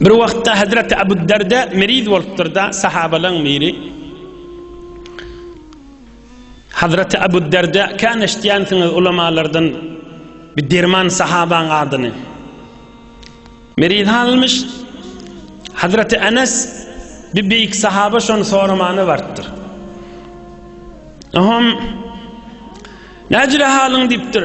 Bir wagtda Hazreti Abu Darda meriz bolupdyrda, sahabalaň biri Hazreti Abu Darda kan eşitýänsiňiz ulamalardan bir derman sahabaň adyny. Meriz halmyş Hazreti Enes bir beýik sahaba şony soramana bartdyr. Aham Näjire halyň diýipdir.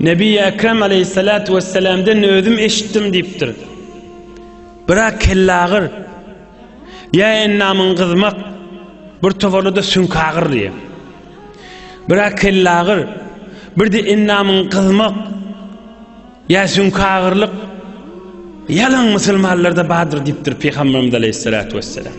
Nebi-i Ekrem aleyhissalatu vesselamden özüm eşitdim diýipdir. Biraz kellagyr, ýa endamyň gyzmak, bir toparda-da süňkagyr diýip. Biraz kellagyr, birde endamyň gyzmak, ýa süňkagyrlyk ýalan musulmanlarda bardyr diýipdir Pygamberimiz aleyhissalatu vesselam.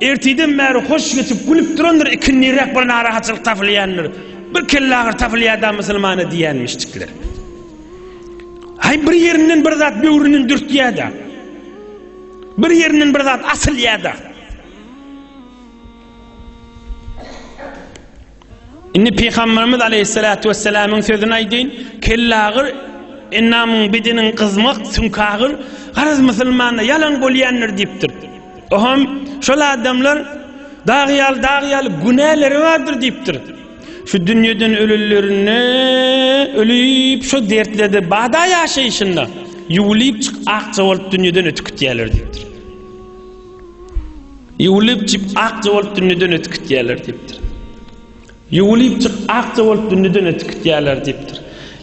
Ertirden bäri hoş geçip, gülüp durandyr, ikindiräk bir narahatçylyk tapylýandyr. Bir kellagyry tapylýar-da musulmana diýýänmişjikler. Haý bir ýerinden bir zat böwründen dürtýär-de. Bir ýerinden bir zat asylýar-da. Indi Pygamberimiz Aleyhissalatu vesselamyň sözüni aýdyň, kellagyr ennamyň bidiniň gyzmak sünkagyr garaz musulmanda ýalan bolýandyr diýipdir. Oham şol adamlar dag ýaly dag ýaly günäleri bardyr diýipdir. Şu dünýeden ölülerine ölüp şu dertlerde bada ýaşaýşynda ýuwulyp çyk akja bolup dünýeden ötüp gitýärler diýipdir. Ýuwulypjyk akja bolup dünýeden ötüp gitýärler diýipdir. Ýuwulypjyk akja bolup dünýeden ötüp gitýärler diýipdir.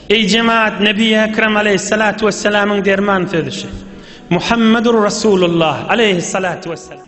Eý jemaat Nebi Ekrem aleýhissalatu wessalamyň derman sözi şu. Muhammedur Rasulullah aleýhissalatu wessalam.